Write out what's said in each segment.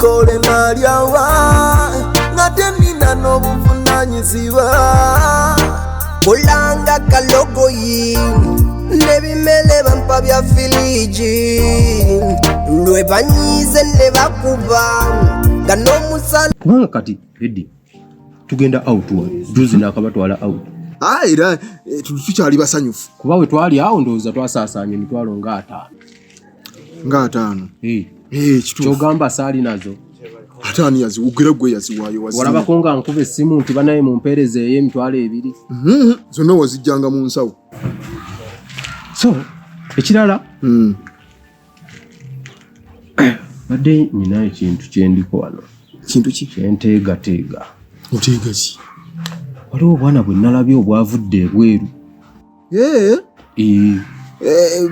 kole nalyawa ngate nina n'obuvunanyizibwa kulanga kalogoyi nebimele bampa bya filiji lwe banyize ne bakuba nga n'omusala kubanga kati edi tugenda out wa juzi nakabatwala out ah, era eh, tukyali basanyufu kuba we twali awo ndowooza twasaasaanya emitwalo nga ataano nga ataano eh. Eh, kyogamba saali nazo ate ani yaziwugera gwe yaziwaayo walabako nga nkuba essimu nti banaye mumpeereza eyo emitwalo ebiri mm-hmm. zonna wazijjanga mu nsawo so ekirala mm. badde nina ekintu kyendiko wano kintu ki kyenteegateega oteega ki waliwo obwana bwe nalabye obwavudde ebweru eh eh, eh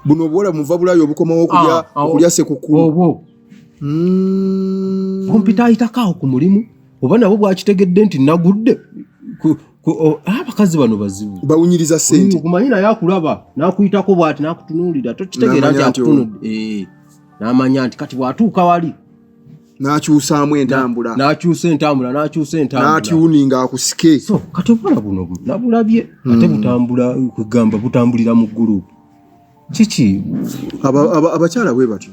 buno bwola muva bulayo obukomawo okulya ah, ah, okulya sekukulu obo mm. kompita ayitakawo ku mulimu oba nabo bwakitegedde nti nagudde ah, abakazi bano bazibu bawunyiriza sente kumanyi naye akulaba nakuyitako bwati nakutunuulira tokitegeera nti akutunudde eh, namanya nti kati bwatuuka wali n'akyusaamu entambula n'akyusa entambula n'akyusa entambula n'atyuninga akusike so kati obwana buno nabulabye hmm. ate butambula kugamba butambulira mu ggulu kiki abakyala bwe batyo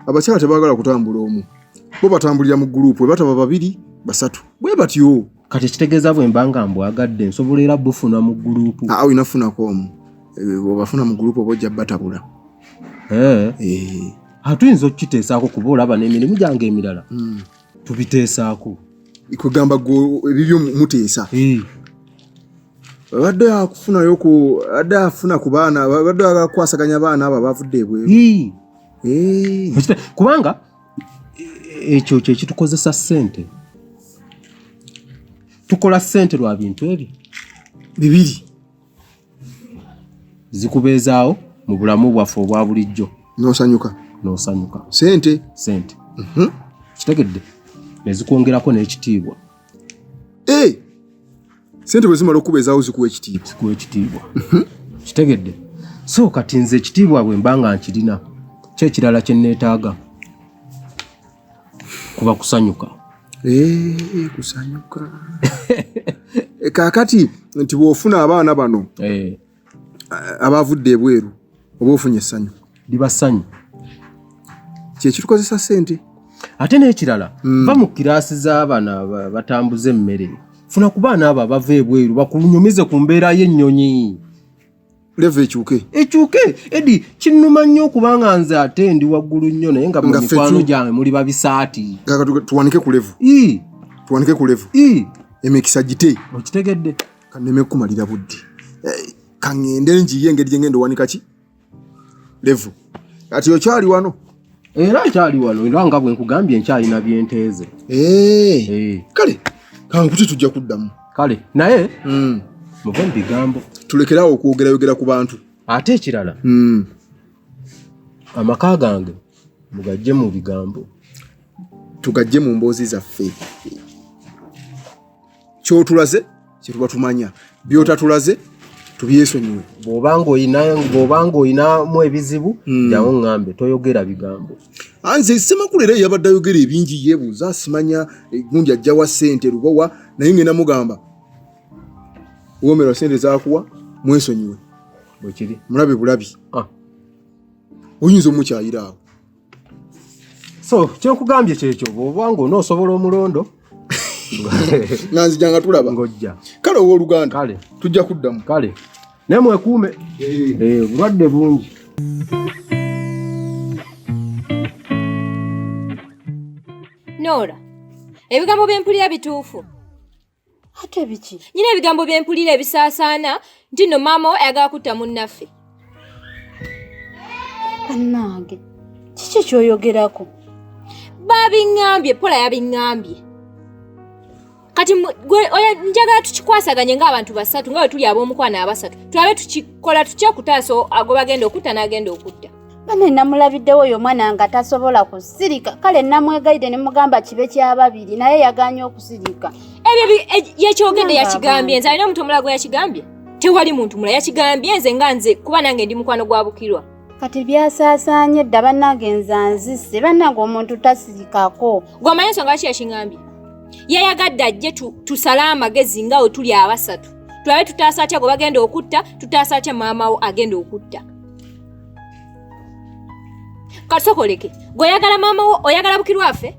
abakyala tebagala kutambula omu bo batambulira mu guruupu bwe bataba babiri basatu bwe batyo kati ekitegeeza bwe mba nga mbwagadde nsobola era bufuna mu gulupu ah, olina funako omu eh, obafuna mu gulupu oba ojja batabula eh. eh. ah, tuyinza okukiteesaako kuba olaba n'emirimu gyange emirala hmm. tubiteesaako kwegamba ebibyo muteesa abadde akufunayo ku adde afuna ku baana abadde agakwasaganya abaana abo abavudde ebweru kubanga e, ekyo kye kitukozesa ssente tukola ssente lwa bintu ebyo bibiri zikubeezaawo mu bulamu bwaffe obwa bulijjo nosanyuka nosanyuka sente sente mhm. kitegedde nezikwongerako n'ekitiibwa Eh! Sente bwe zimala okuba ezaawo zikuwa ekitiibwa. Zikuwa ekitiibwa. Mhm. Kitegedde. So kati nze ekitiibwa bwe mba nga nkirina kyo ekirala kye nneetaaga kuba kusanyuka. Eh, kusanyuka. Eh, kaakati nti bw'ofuna abaana bano. Eh. abaavudde ebweru oba ofunye essanyu liba ssanyu kyekitukozesa sente ate n'ekirala mm. va mu kiraasi z'abaana batambuza emmere funa ku baana abo abava ebweru bakunyumize ku mbeera y'ennyonyi leva ekyuke ekyuke edi kinnuma nnyo okubanga nze ate ndi waggulu nnyo naye nga mumikwano gyange muli babisaati tuwanike ku levu tuwanike ku levu emikisa gite okitegedde kaneme kumalira budde eh, kaŋŋende njiye engeri gye ŋŋenda owanika ki levu kati okyali wano era nkyali wano era nga bwe nkugambye nkyalina byenteeze eh, eh. kale kankuti tujja kuddamu kale naye hmm. muve mu bigambo tulekeraawo okwogerayogera ku bantu ate ekirala hmm. amaka gange mugajje mu bigambo tugajje mu mboozi zaffe kyotulaze kyetuba tumanya byotatulaze tubyesonyiwe bwobanga olina bwobanga olinamu ebizibu hmm. jawo ngambe toyogera bigambo ah, nze semakulu era yabadde ayogera ebingi yebuuza simanya eh, gundi ajjawa sente lubowa naye ngenda mugamba womerwa sente zakuwa mwesonyiwe bwekiri mulabe bulabi ah. oyinza omukyayiraawo so kyenkugambye kyekyo bwoba nga onoosobola omulondo nanzija nga tulaba ngojja kale owoluganda kale tujja kuddamu kale naye mwekuume eh, obulwadde bungi noora ebigambo byempulira bituufu ate biki nyina ebigambo bye mpulira ebisaasaana nti nno maama we ayagala kutta munnaffe bannange kiki kyoyogerako babiŋŋambye pola yabiŋŋambye kati njagala tukikwasaganye ng'abantu basatu nga bwe tuli ab'omukwano abasatu tulabe tukikola tutya okutaasa agobagenda okutta n'agenda okutta bane namulabiddewo oyo omwana nga tasobola kusirika kale namwegayide nemugamba kibe kyababiri naye yaganye okusirika ebyo e, yekyogedde yakigambye nze alina omuntu omulala gwe yakigambye tewali muntu mula yakigambye nze nga nze kuba nange ndi mukwano gwa bukirwa kati byasaasaanye dda bannange nze anzise bannange omuntu tasirikako gwamanyi ensonga lwaki yakingambye yayagadde ajje tusale amagezi nga we tuli abasatu tulabe tutaasa atya gwe bagenda okutta tutaasa atya maama wo agenda okutta katusokoleke gwe oyagala maama wo oyagala bukirwa afe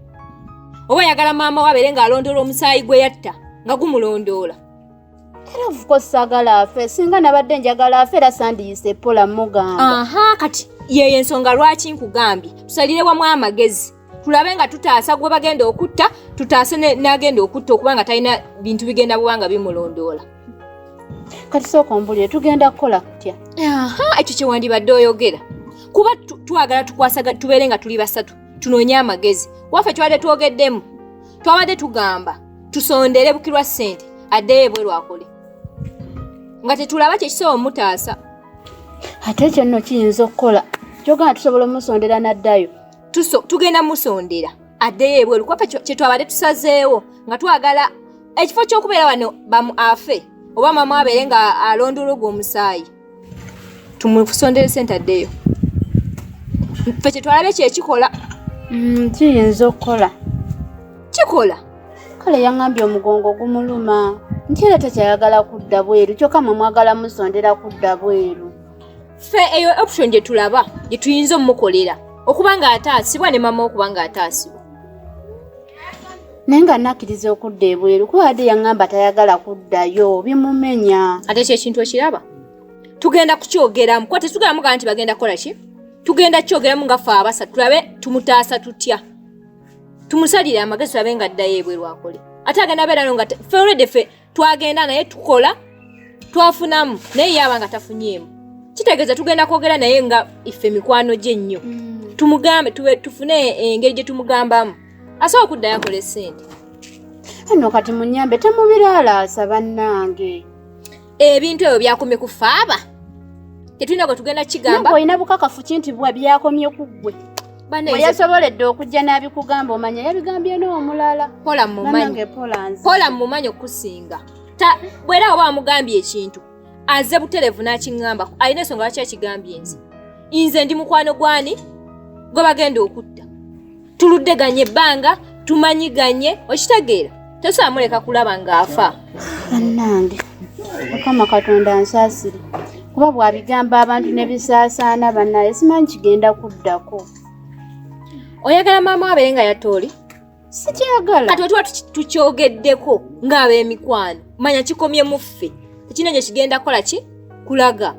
oba oyagala maama wo abeere ng'alondoola omusaayi gwe yatta nga gumulondoola era ofuko sagala afe singa nabadde njagala afe era sandiyise pola mugamba aha kati yeyo ensonga lwaki nkugambye tusalire wamu amagezi tulabe nga tutaasa gwe bagenda okutta tutaase n'agenda okutta okuba nga talina bintu bigenda buba nga bimulondoola kati sooka ombulire tugenda kukola kutya ekyo kyewandibadde oyogera kuba twagala tukwasaga tubeere nga tuli basatu tunoonye amagezi waffe twabadde twogeddemu twabadde tugamba tusondere bukirwa ssente addeyo ebwe lwakole nga tetulaba kyekisobola omutaasa ate ekyo nno kiyinza okukola kyogana tusobola omusondera n'addayo tugenda musondera addeyo ebweru kuba kyetwabadde tusazeewo nga twagala ekifo kyokubeera wano bamu afe oba mamu abeere nga alonda olwogwo omusaayi tumusondere sente addeyo fe kyetwalabe kyekikola mm, kiyinza okukola kikola kale yaŋambye omugongo gumuluma nti era tekyayagala kudda bweru kyokka mwe mwagala musondera kudda bweru ffe eyo option gye tulaba gye tuyinza omukolera okuba ng'ataasibwa ne mama okuba ng'ataasibwa naye nga nakkiriza okudda ebweru kuba wadde yaŋŋamba tayagala kuddayo bimumenya ate ekyo ekintu ekiraba tugenda kukyogeramu kuba tetugeramu gaa nti bagenda kukola ki tugenda kukyogeramu nga fe abasa tulabe tumutaasa tutya tumusalire amagezi tulabe nga addayo ebweru akole ate agenda beerano nga fe olwedde fe twagenda naye tukola twafunamu naye yaba nga tafunyeemu kitegeeza tugenda kwogera naye nga iffe mikwano gye nnyo mm. tumugambe tufune engeri gye tumugambamu asobola okuddayo akola esente eno kati munyambe temubiralaasa bannange ebintu ebyo byakomye ku faaba tetulina gwe tugenda kigamba olina bukakafu kinti bwa byakomye ku ggwe yasoboledde okujja n'abikugamba omanya yabigambye n'omulala pola mumanya okukusinga bwera oba amugambye ekintu aze buterevu n'akiŋŋamba alina ensonga lwaki akigambye nze nze ndi mukwano gwani gwe bagenda okutta tuluddeganye ebbanga tumanyiganye okitegeera tosaamuleka kulaba ng'afa bannange mukama katonda nsaasire kuba bw'abigamba abantu ne bisaasaana bannaye simanyi kigenda kuddako oyagala maama wabeere nga yatooli sikyagala kati otuba tukyogeddeko ng'ab'emikwano manya kikomye muffe tekina gye kigenda kukola ki kulaga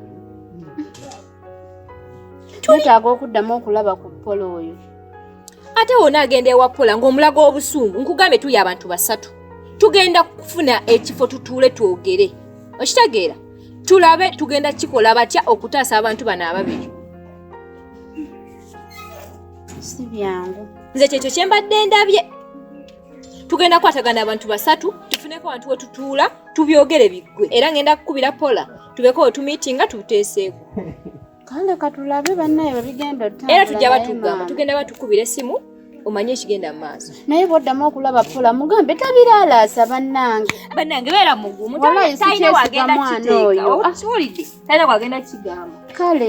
twetaaga okuddamu okulaba ku pola oyo ate wona agenda ewa pola ng'omulaga obusungu nkugambye tuli abantu basatu tugenda kufuna ekifo tutuule twogere okitegeera tulabe tugenda kikola batya okutaasa abantu bano ababiri si byangu nze kyekyo kye mbadde ndabye tugenda kukwatagana abantu basatu tufuneko abantu wetutuula tubyogere biggwe era ngenda kukubira pola tubeko we tumitinga tuteeseeko kale katulabe bannaye babigenda era tujja batugamba tugenda batukubira essimu omanye ekigenda mu maaso naye bwoddamu okulaba pola mugambe tabiraalaasa bannange bannange beera mugumu talina wagenda kiteeka kiwulidde talina wagenda kigamba kale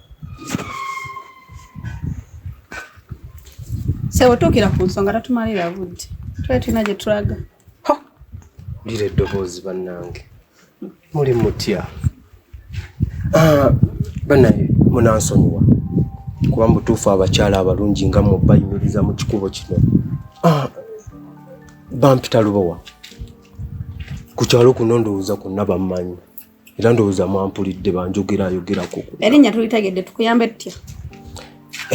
Sebo tuukira ku nsonga tatumalira budde. Twali tulina gye tulaga. Ho! Lira eddoboozi bannange. Muli mutya? Ah, bannange munansonyiwa kuba mu butuufu abakyala abalungi nga mmwe bayimiriza mu kikubo kino. Ah, bampita lubowa. Ku kyalo kuno ndowooza kwonna bammanyi. era ndowooza mwampulidde banjogerayogerako erinnya tulitegedde tukuyambe tutya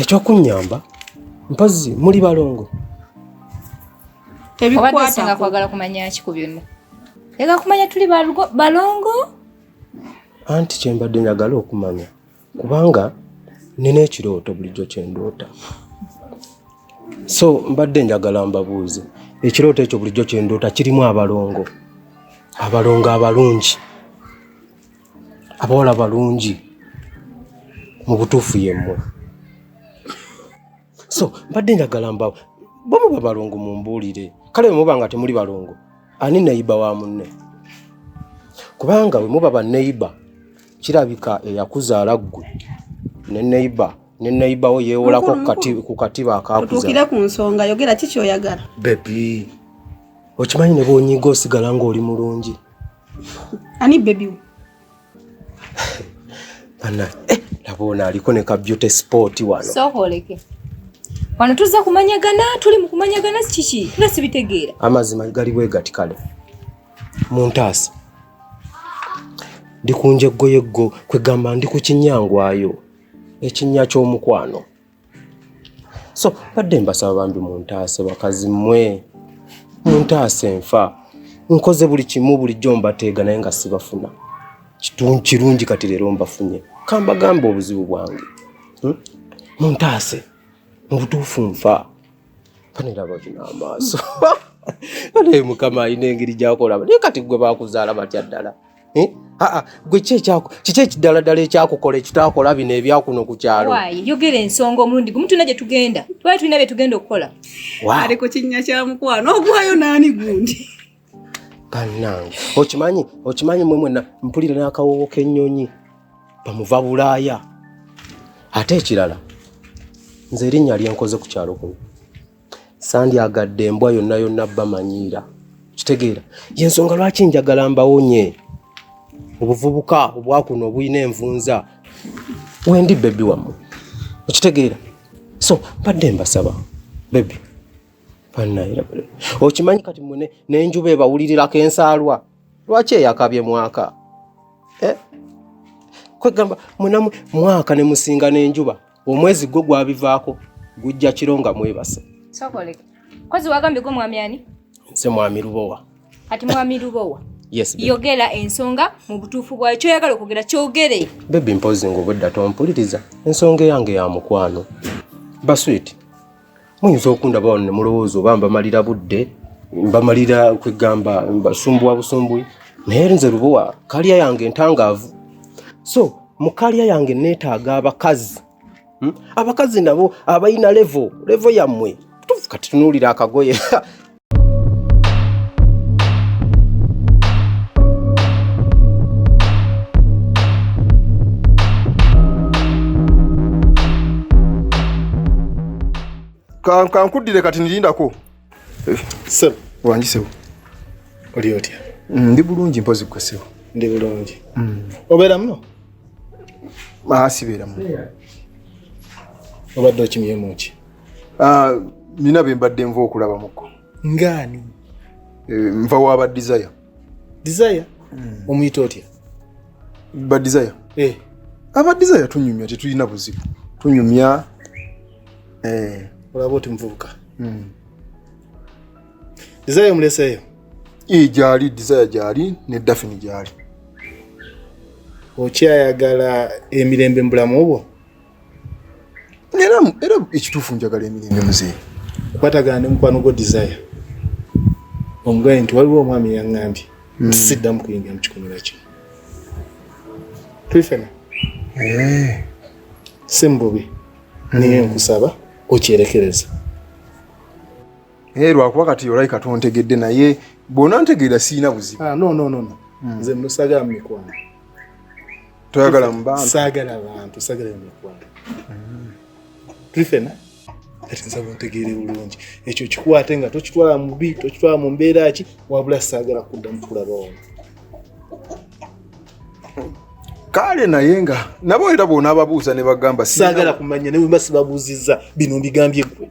ekyokunnyamba mpozzi muli balongo tebikwatinga kwagala kumanya ki ku byonna ega kumanya tuli balongo anti kyembadde njagala okumanya kubanga nina ekirooto bulijjo kyendoota so mbadde njagala mbabuuze ekirooto ekyo bulijjo kyendoota kirimu abalongo abalongo abalungi abawala balungi mu butuufu yemmwe so mbadde njagala mbawo bwemuba balongo mumbuulire kale bwemuba nga temuli balongo ani neyiba wa munne kubanga bwemuba baneyiba kirabika eyakuzaala ggwe ne neyiba ne neyiba wo yeewolako ku katiba akakuzaotuukire ku nsonga yogera ki kyoyagala bebi okimanyi ne bwonyiga osigala ng'oli mulungi ani bebiwo Bana, eh, labona aliko ne ka beauty sport wano. So holeke. Wano tuza kumanyagana, tuli mu kumanyagana kiki? Nga sibitegeera. Amazima gali bwe gati kale. Muntaasa. Ndi kunje goye go kwegamba ndi ku kinyangwayo. Ekinya ky'omukwano. so badde mbasaba bambi muntaase bakazi mwe muntaase nfa nkoze buli kimu bulijjo mbateega naye nga sibafuna kirungi kati leero mbafunye kambagamba obuzibu bwange hmm? muntaase mu butuufu nfa paniraba kino amaaso naye mukama alina engeri gyakolaba naye kati gwe bakuzaala batya ddala eh? aa gwe kiki ekidaladala ekyakukola ekitaakola bino ebyakuno ku kyalo yogera ensonga omulundi gumu tulina gye tugenda twali tulina bye tugenda okukola ali ku kinnya kya mukwano ogwayo naani gundi bannange okimanyi okimanyi mwe mwena mpulira n'akawoowo k'ennyonyi bamuva bulaaya ate ekirala nze erinnya lyenkoze ku kyalo kuno sandyagadde embwa yonna yonna bamanyiira kitegeera yensonga lwaki njagala mbawonye obuvubuka obwakuno obulina envunza wendi bebi wammwe okitegeera so mbadde mbasaba bebi okimanyi kati mune nenjuba ebawulirirako ensaalwa lwaki eyakabye mwaka eh? kwegamba mwenamu mwaka nemusinga nenjuba omwezi gwo gwabivaako gujja kiro nga mwebase sokoleka kozi wagambye gwo mwami ani nse mwami lubowa kati mwami lubowa yes yogera ensonga mu butuufu bwayo kyoyagala okwogera kyogere bebi mpozi nga obwedda tompuliriza ensonga eyange ya mukwano baswit muyinza okundaba wano ne mulowooza oba mbamalira budde mbamalira kwegamba mbasumbuwa busumbui naye nze lubowa kalya yange entangaavu so mu kalya yange neetaaga abakazi hmm? abakazi nabo abalina levo levo yammwe kati tunuulira akagoye kankuddire kati nirindako eh, sebo wangi sebo oli otya mm, ndi bulungi mpozi gwe sebo ndi bulungi mm. obeera muno ah, sibeera muno obadde okimyemuki Ah, nina be mbadde nva okulaba muko ngaani eh, nva waba desire desire hmm. omuyita otya ba desire eh. aba desire tunyumya tetulina buzibu tunyumya eh. olaba oti muvubuka hmm. desire omuleseeyo ee gyali desire gyali ne dafini gyali okyayagala emirembe mu bulamu obwo era era ekituufu njagala emirembe muzeeyi kwatagana ne mukwano gwo desire omugambye nti waliwo omwami yaŋŋambye hmm. nti siddamu kuyingira mu kikomera kino tulifena eh. si mububi hmm. naye nkusaba okyerekereza naye eh, lwakuba kati olayi katontegedde naye bwona ntegeera sirina buzibu ah, hmm. nze musagala mu mikwano toyagala mubantu saagala bantu saagala emikwano mm. tuli fena kati nsaba ontegeere bulungi ekyo kikwate nga tokitwala mubi tokitwala mu mbeera ki wabula saagala kuddamu kulaba ono kale naye nga nabo era bona ababuuza ne bagamba saagala kumanya naye wemba sibabuuzizza bino mbigambye gwe